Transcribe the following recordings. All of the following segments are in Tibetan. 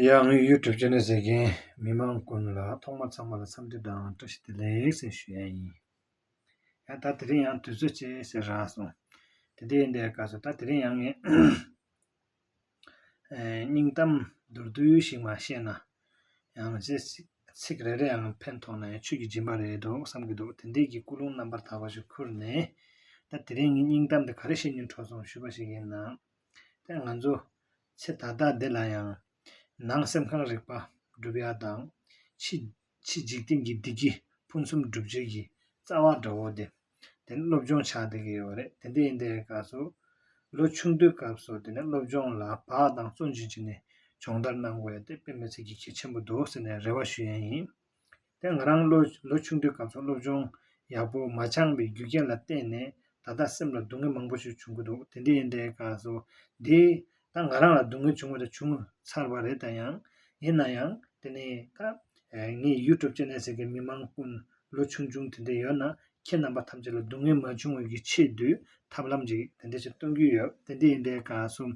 ཡང་དངོས་ཡོད་གྲུབ་ཆ་ནི་ཟེར་མཁན་མི་དམངས་ཀུན་ལ་ཐོག་མ་ཚང་མ་ལ་འཚམས་འདྲི་དང་བཀྲ་ཤིས་བདེ་ལེགས་ཟེར་ཤོས་ཡང་ཡིན། ཡང་ད་དེ་རིང་ཡང་དུས་ཚོད་ཅེས་ཟེར་རང་སོང། དེ་འདྲའི་འདའི་སྐབས་སུ་ད་དེ་རིང་ཡང་ངས་སྙིང་གཏམ་མདོར་བསྡུས་ཤིག་མ་བཤད་ན་ཡང་ཅི་ཟེར་ཚིག་རེ་རེ་ཡང་ཕན་ཐོགས་ན་ཡང་ཆོས་ཀྱི་སྦྱིན་པ་རེད་འདོད་བསམ་གྱི་འདུག་དེ་འདས་ཀྱི་སྐུ་རླུང་རྣམ་པར་དག་པ་ཞིག་ཁུར་ནས་ད་དེ་རིང་ངས་སྙིང་གཏམ་འདི་ག་རེ་བཤད་མྱོང་དྲོ་སོང་ཞུས་པ་ཞིག་ཡིན་ན། དེ་ང་ཚོ་ཚེ་ཐ་དག་འདི་ལ་ཡང། ནང་སེམས་གང་རིག་པ་བསྒྲུབ་ཡག་དང། ཕྱི་འཇིག་རྟེན་གྱི་བདེ་སྐྱིད་ཕུན་སུམ་སྒྲུབ་བྱེད་ཀྱི་རྩ་བ་འདྲ་བོ་དེ། དེ་ནི་སློབ་སྦྱོང་བྱ་དགོས་ཀྱི་ཡོད་རེད་དེ་འདི་ཡིན་དེ་ག་སོ། ལོ་ཆུང་དུས་སྐབས་སུ་དེ་ནི་སློབ་སྦྱོང་ལ་བག་དང་བརྩོན་ཅི་བྱས་ནས་སྦྱོང་བརྡར་གནང་དགོས་ཡོད་དེ་དཔེ་མི་ཚེ་གྱི་གལ་ཆེན་པོ་འདུག་ཟེར་ནས་རེ་བ་ཞུ་ཡས་ཡིན། དེ་ང་རང་ལོ་ཆུང་དུས་གམ་སོང་སློབ་ཆུང་ཡག་པོ་མ་ཆང་བའི་རྒྱུ་རྐྱེན་ལ་བརྟེན་ནས་ད་ལྟ་སེམས་ལ་སྡུག་བསྔལ་མང་པོ་ཞིག་བྱུང་གི་འདུག་དེ་འདྲའི་འདྲའི་སྐབས་སུ་འདི་ད་ང་རང་ལ་སྡུག་བསྔལ་བྱུང་བ་དང་བྱུང་ཚར་བ་རེད་ད་ཡང་ཡིན་ན་ཡང་དེ་ནས་ད་ངས YouTube channel ཟེར་གི་མི་མང་ཀུན་ལོ་ཆུང་ཆུང་དེ་འདྲ་ཡོད་ན་ཁྱེད་རྣམ་པ་ཐམས་ཅད་ལ་སྡུག་བསྔལ་མ་བྱུང་བའི་ཀྱི་ཆེད་དུ་ཐབས་ལམ་རིགས་དེ་འདྲ་ཞིག་སྟོན་གྱི་ཡོད་དེ་འདི་ཡིན་པའི་དགའ་གསུམ།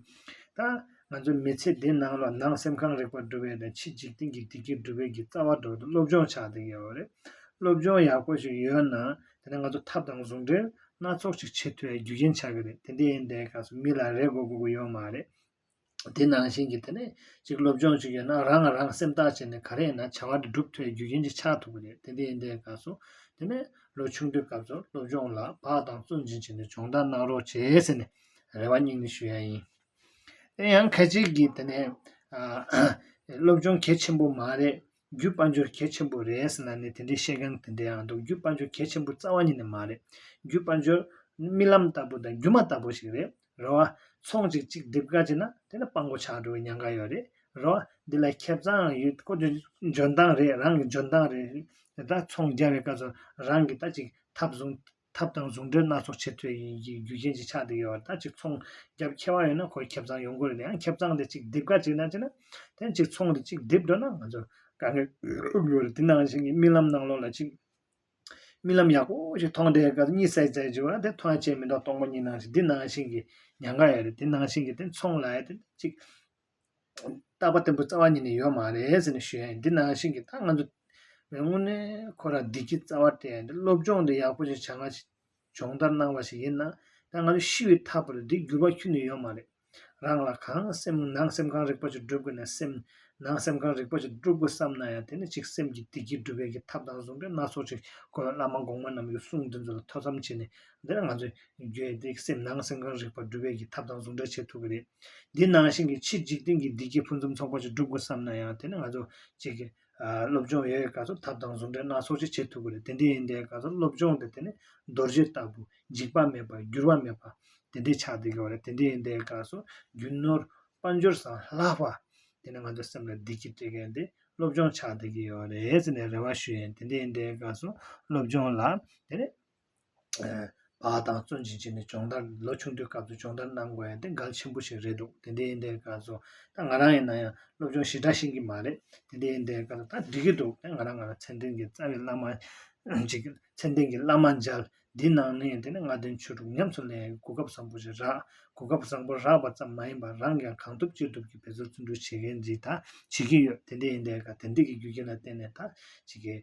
ད། ང་ཚོའི་མི་ཚེ་འདི་ནང་ལ་ནང་སེམས་གང་རེག་པ་སྒྲུབ་པའི་དང་ཕྱི་འཇིག་རྟེན་གྱི་བདེ་སྐྱིད་སྒྲུབ་པའི་ཀྱི་རྩ་བ་སྒྲོག་སྟེ་སློབ་སྦྱོང་བྱ་དགོས་ཀྱི་ཡོད་རེད། སློབ་སྦྱོང་ཡག་པོ་ཞིག་ཡོད་ན་དེ་ནས་ང་ཚོ་ཐབས་དང་ཟུང་འབྲེལ་སྣ་ཚོགས་ཞིག་བྱེད་ཐུབ་པའི་རྒྱུ་རྐྱེན་ཆགས་ཀྱི་རེད་དེ་འདི་ཡིན་པའི་དགའ་གསུམ་མི་ལ་རེ་སྒུག་སྒུག་ཡོད་མ་རེད། དེ་ནང་བཞིན་གྱི་དེ་ནས་ཅིག་སློབ་སྦྱོང་ཅིག་ཡོད་ན་རང་ལ་རང་སེམས་བརྟག་བྱས་ནས་ག་རེ་ཡིན་ན་བྱ་བ་འདི་སྒྲུབ་ཐོའི་རྒྱུ་རྐྱེན་ཅིག་ཆགས་ཐུབ་ཀྱི་རེད་དེ་འདི་ཡིན་འདི་ག་སོང་དེ་ནས་ལོ་ཆུང་དུས་སྐབས་སུ་སློབ་སྦྱོང་ལ་བག་དང་བཙོན་འབྱིན་བྱས་ནས་སྦྱོང་བརྡར་གནང་རོགས་བྱེད་ཟེར་ནས་རེ་བ་སྙིང་ནས་ཞུ་ཡ་ཡིན། དེ་ཡང་གལ་ཆེ་གི་དེ་ནས་སློབ་སྦྱོང་གལ་ཆེན་པོ་མ་རེད། རྒྱུད་དཔལ་འབྱོར་གལ་ཆེན་པོ་རེད་ཟེར་ན་ནི་དེ་འདྲའི་བཤད་མཁན་དེ་འདྲའང་འདུག་རྒྱུད་དཔལ་འབྱོར་གལ་ཆེན་པོ་རྩ་བ་ཉིད་ནས་མ་རེད་རྒྱུད་དཔལ་འབྱོར་ནི་རྨི་ལམ་ལྟ་བུ་དང་སྒྱུ་མ་ལྟ་བུ་ཞིག་རེད་རེད་བ། ཚོང་ཅིག་གཅིག་སྒྲིབ་དཀའ་བྱས་ན་དེ་ནི་སྤང་གོ་ཆག་འགྲོ་བའི་ཉེན་ཁ་ཡོད་རེད་རེད་བ། འདི་ལ་ཁེབས་ཙའང་ཡོད་ཀོ་ཆོད་འཇོན་ཐང་རེད་རང་གི་འཇོན་ཐང་རེད་དེ་ལྟར་ཚོང་རྒྱག་བའི་སྐབས་སུ་རང་གིས་ད་ཅིག་ཐབས་བཟུང་ཐབས་དང་བཟུང་གྲོལ་སྣ་ཚོགས་ཆེད་དོན་ཡིན་གྱི་རྒྱུ་རྐྱེན་གྱི་ཆ་དེ་ཡོད་བ་དང་གཅིག་ཚོང་རྒྱབ་ཁེ་བ་ཡོད་ན་ཁོས་ཁེབས་ཚང་ཡོང་དགོས་རེད་དེ་ཡང་ཁེབས་ཚང་དེ་གཅིག་རྡིབ་ག་གཅིག་ན་བྱས་ན་དེ་གཅིག་ཚོང་དེ་གཅིག་རྡིབ་འགྲོ་ན་ང་ཚོར་དཀའ་ངལ་དབུགས་ཡོད་རེད་དེ་ནང་བཞིན་གྱི་རྨི་ལམ་ནང་ལོགས་ལ་གཅིག་རྨི་ལམ་ཡག་པོ་ཞིག་མཐོང་འདྲའི་སྐབས་གཉིད་སད་སད་བྱེད་དགོས་ན་དེ་ཐོ་ཡང་བྱས་མི་འདོག་སྟོང་པ་གཉིས་ནང་བཞིན་འདི་ནང་བཞིན་གྱི་ཉག་ག་ཡོད་རེད་དེ་ནང་བཞིན་གྱི་དེ་ཚོང་ལ་ཡོད་དེ་གཅིག་བཏགས་པ་བརྟན་པོ་རྩ་བ་ཉིད་ནས་ཡོད་མ་རེད་ཟེར་ནས་ཞུས་འདི་ནང་བཞིན་གྱི་ད་ང་ཚོ་མོས་དངོས་གནས་ཁོ་རང་བདེ་སྐྱིད་རྩ་བ་སྤྲད་འདི་སློབ་སྦྱོང་འདི་ཡག་པོ་ཞིག་བྱ་ང་སྦྱོང་བརྡར་གནང་བ་ཞིག་ཡིན་ན་ད་ང་ཚོ་ཤི་བའི་མཐའ་བར་འདི་འགྱུར་བ་འཁྱུད་ནས་ཡོད་མ་རེད་རང་ལ་གང་སེམས་ནང་སེམས་གང་རིག་པ་ཞིག་སྒྲུབ་དགོས་ན་སེམས་ནང་སེམས་གང་རིག་པ་ཞིག་སྒྲུབ་དགོས་བསམ་ན་ཡང་དེ་ནི་ཅིག་སེམས་ཀྱི་བདེ་སྐྱིད་སྒྲུབ་པའི་གི་ཐབས་དང་ཟུང་འབྲེལ་སྣ་ཚོགས་ཞིག་དགོས་བླ་མ་གོང་མ་རྣམས་ཀྱི་གསུང་འདི་ཚོ་ལ་ཐོས་བསམ་བྱས་ནས་འདིར་ང་ཚོས་རྒྱུད་སྡེ་སེམས་སྣང་སེམས་ཁམས་རིག་པ་སྒྲུབ་པའི་གྱི་ཐབས་དང་ཟུང་འབྲེལ་བྱེད་ཐུབ་ཀྱི་རེད། འདི་ནང་བཞིན་གྱི་ཕྱིས་འཇིག་རྟེན་གྱི་བདེ་སྐྱིད་ཕུན་སུམ་ཚོགས་པ་ཞིག་སྒྲུབ་དགོས་བསམ་ན་ཡང་དེ་ནི་ང་ཚོ་གཅིག་གིས་སློབ་སྦྱོང་ཡོད་ག་ཚོད་ཐབས་དང་ཟུང་འབྲེལ་སྣ་ཚོགས་ཅིག་བྱེད་ཐུབ་ཀྱི་རེད་དེ་འདྲས་ཡིན་དེ་ག་ཚོད་སློབ་སྦྱོང་དེ་དེ་ནི་རྡོ་རྗེ་ལྟ་བུ་འཇིག་པ་མེད་པ་འགྱུར་བ་མེད་པ་དེ་འདྲས་ཆགས་བསྡད་ཀྱི་བ་རེད་དེ་འདྲས་ཡིན་དེ་ག་ཚོད་རྒྱུ་ནོར་དཔལ་འབྱོར་སམ་ལྷག་པ་དེ་ནི་ང་ཚོ་སེམས་ལ་བདེ་སྐྱིད་སྤྲད་མཁན་དེ་སློབ་སྦྱོང་ཆགས་བསྡད་ཀྱི་ཡོད་རེད་ཟེར་ནས་རེ་བ་ཞུ་ཡིན་དེ་འདྲས་ཡིན་དེ་ག་ཚོད་སློབ་སྦྱོང་ལ་དེ་ནི། བ་དང་བརྩོན་ཅིང་བྱས་ནས་སྦྱོང་བརྡར་ལོ་ཆུང་དུས་སྐབས་སུ་སྦྱོང་བརྡར་གནང་དགོས་ཡ་དེ་འགལ་ཆེན་པོ་ཞིག་རེད་འདུག་དེ་འདྲའི་འདའི་སྐབས་སུ་ད་ང་རང་ཡིན་ན་ཡང་སློབ་སྦྱོང་ཞི་དྲག་ཤེས་ཀྱི་མ་རེད་དེ་འདྲའི་འདའི་སྐབས་སུ་ད་འགྲིག་གི་འདུག་དེ་ང་རང་ང་རང་ཚད་ལྡན་གྱི་རྩ་བའི་བླ་མ་ཅིག་གི་ཚད་ལྡན་གྱི་བླ་མ་མཇལ་འདི་གནང་ནས་དེ་ནས་ལྔ་ལྡན་ཆོས་དྲུག་ཉམས་སུ་ལེན་ཡའི་གོ་སྐབས་བཟང་པོ་ཞིག་རག་གོ་སྐབས་བཟང་པོ་རག་པ་ཙམ་མ་ཡིན་པར་རང་གིའང་གང་ཐུབ་ཅི་ཐུབ་ཀྱིས་བེད་སྤྱོད་བརྩོན་འགྲུས་བྱེད་མཁན་ཅིག་ད་བྱེད་ཀྱི་ཡོད་དེ་འདའི་འདའི་སྐབས་དེ་འདྲ་གི་རྒྱུ་རྐྱེན་ལ་བརྟེན་ནས་ད་བྱེད་ཀྱི།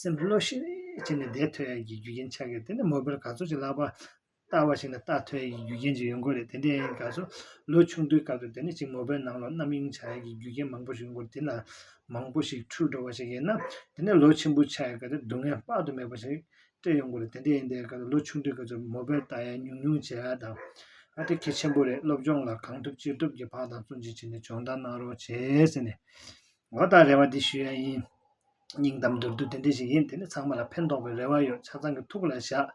སེམས་བློ་ཤེས་བྱས་ནས་བརྡས་ཐོན་ཡས་ཀྱི་རྒྱུ་རྐྱེན་ཆགས་ཀྱི་དེ་ནི་མོ་བེར་ག་ཚོད་ཅིག་ལག་པར་བཏགས་པ་ཞིག་ནི་བཏགས་ཐོན་ཡས་ཀྱི་རྒྱུ་རྐྱེན་ཅིག་ཡོད་མགོ་རེད་དེ་འདྲའི་ཡན་ག་ཚོད་ལོ་ཆུང་དུས་སྐབས་དུ་དེ་ནི་ཅིག་མོ་བེར་ནང་ལོག་རྣམ་གཡེང་བྱ་ཡས་ཀྱི་རྒྱུ་རྐྱེན་མང་པོ་ཞིག་མགོ་དེ་ལ་མང་པོ་ཞིག་འཁྲུལ་འགྲོ་བ་ཞིག་ཡིན་ན་དེ་ནི་ལོ་ཆེན་པོ་ཆགས་ཡས་ག་ཚོད་སྡུག་བསྔལ་དཔག་ཏུ་མེད་པ་ཞིག་སྤྲད་ཡོད་མགོ་རེད་དེ་འདྲའི་ཡན་དེ་ག་ཚོད་ལོ་ཆུང་དུས་ག་ཚོད་མོ་བེར་བཏགས་ཡས་ཉུང་ཉུང་བྱས་ཡས་དང་ཨ་དེ་གལ་ཆེན་པོ་རེད་སློབ་སྦྱོང་ལ་གང་ཐུབ་ཅི་ཐུབ་ཀྱི་བག་དང་བཙོན་ཅིག་བྱས་ནས་སྦྱོང་བརྡར་གནང་རོགས་བྱས་ཟེར་ནས་འོ་ད་རེ་བ་འདི་ཞུ་ཡས་ཡིན། སྙིང་གཏམ་མདོར་བསྡུས་དེ་འདྲ་ཞིག་ཡིན་དེ་ནི་ཚང་མ་ལ་ཕན་ཐོགས་པའི་རེ་བ་ཡོད་ཆ་ཚང་གི་ཐུགས་ལ་བཞག་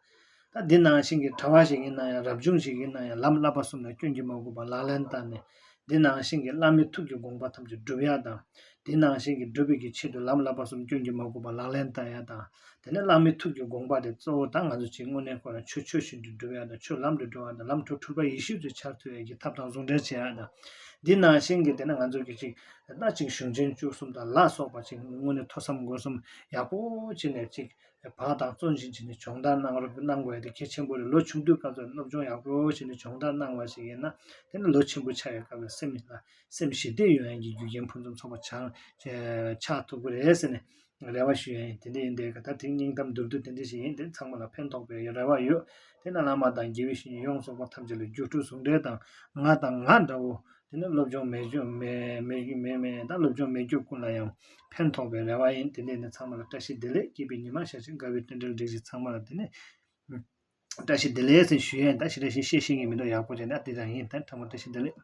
ད་འདི་ནང་བཞིན་གྱི་གྲྭ་བ་ཞིག་ཡིན་ན་ཡང་རབ་བྱུང་ཞིག་ཡིན་ན་ཡང་ལམ་བསླབ་པ་གསུམ་ལ་སྐྱོན་གྱིས་མ་གོས་པར་ལག་ལེན་བསྟར་ནས་འདི་ནང་བཞིན་གྱི་བླ་མའི་ཐུགས་ཀྱི་དགོངས་པ་ཐམས་ཅད་བསྒྲུབ་ཡག་དང་འདི་ནང་བཞིན་གྱི་སྒྲུབ་པའི་ཆེད་དུ་ལམ་བསླབ་པ་གསུམ་སྐྱོན་གྱིས་མ་གོས་པར་ལག་ལེན་བསྟར་ཡག་དང་དེ་ནས་བླ་མའི་ཐུགས་ཀྱི་དགོངས་པ་དེ་གཙོ་བོ་དང་ང་ཚོ་ཅིག་དངོས་གནས་ཁོ་རང་ཆོས་ཆོས་བཞིན་དུ་སྒྲུབ་ཡག་དང་ཆོས་ལམ་དུ་འགྲོ་ཡག་དང་ལམ་འཕྲོ་འཁྲུལ་པ་ཡེ་ཤེས་ཚུལ་འཆར་ཐུབ་ཡག་གི་ཐབས་དང་ཟུང་འབྲེལ་བྱེད་ཡག་དང་འདི་ནང་བཞིན་གྱི་དེ་ནས་ང་ཚོ་གི་ཅིག་ལ་གཅིག་གཞུང་ཆེན་བཅུ་གསུམ་དང་ལ་སོགས་པ་ཅིག་སྔོན་ནས་ཐོས་བསམ་སྒོམ་གསུམ་ཡག་པོ་བྱེད་ནས་ཅིག་བག་དང་བརྩོན་བཞིན་བྱས་ནས་སྦྱོང་བརྡར་གནང་རོགས་གནང་དགོས་དེ་གལ་ཆེན་པོ་རེད་ལོ་ཆུང་དུས་སྐབས་སུ་སློབ་སྦྱོང་ཡག་པོ་བྱས་ནས་སྦྱོང་བརྡར་གནང་བ་ཞིག་ཡིན་ན་དེ་ནི་ལོ་ཆེན་པོ་ཆགས་ཡོད་སྐབས་ལ་སེམས་ལ་སེམས་ཞི་བདེ་ཡོང་ཡན་གྱི་རྒྱུ་རྐྱེན་ཕུན་སུམ་ཚོགས་པ་ཆགས་ཐུབ་ཀྱི་རེད་ཟེར་ནས་རེ་བ་ཞུ་ཡ་ཡིན་དེ་འདྲ་ཡིན་དེ་ག་ད་དེང་སྙིང་གཏམ་བསྡུར་དུས་དེ་འདྲ་ཞིག་ཡིན་དེ་ཚང་མ་ལ་ཕན་ཐོགས་པའི་རེ་བ་ཡོད་དེ་ན་བླ་མ་དང་དགེ་བའི་བཤེས་གཉེན་ཡོངས་རྫོགས་པ་ཐམས་ཅད་ལ་རྒྱུ་སྤྲུལ་ཟུང་འབྲེལ་དང་ང་དང་ང་འདྲ་བོ་དེ་ནི་སློབ་སྦྱོང་མེད་སྦྱོང་མེད་དང་སློབ་སྦྱོང་མེད་རྒྱུ་ཀུན་ལ་ཡང་ཕན་ཐོགས་པའི་རེ་བ་ཡིན་དེ་འདྲ་ནི་ཚང་མ་ལ་བཀྲ་ཤིས་བདེ་ལེགས་སྐྱེས་པའི་ཉི་མ་ཤར་ཕྱིན་དགའ་བའི་སྟོན་འགྲེལ་བསྒྲིགས་ཤིག་ཚང་མ་ལ་དེ་ནས་བཀྲ་ཤིས་བདེ་ལེགས་ཞུ་ཡ་ཡིན་ད་ཕྱི་དྲ་ཞིག་བཤད་ཤེས་ངེས་མི་འདུག་ཡག་པོ་བྱས་འདུག་ཨ་འདི་ལྟར་ཡིན་ད་ཕྲ་མོ་བཀྲ་ཤིས་བདེ་ལེགས།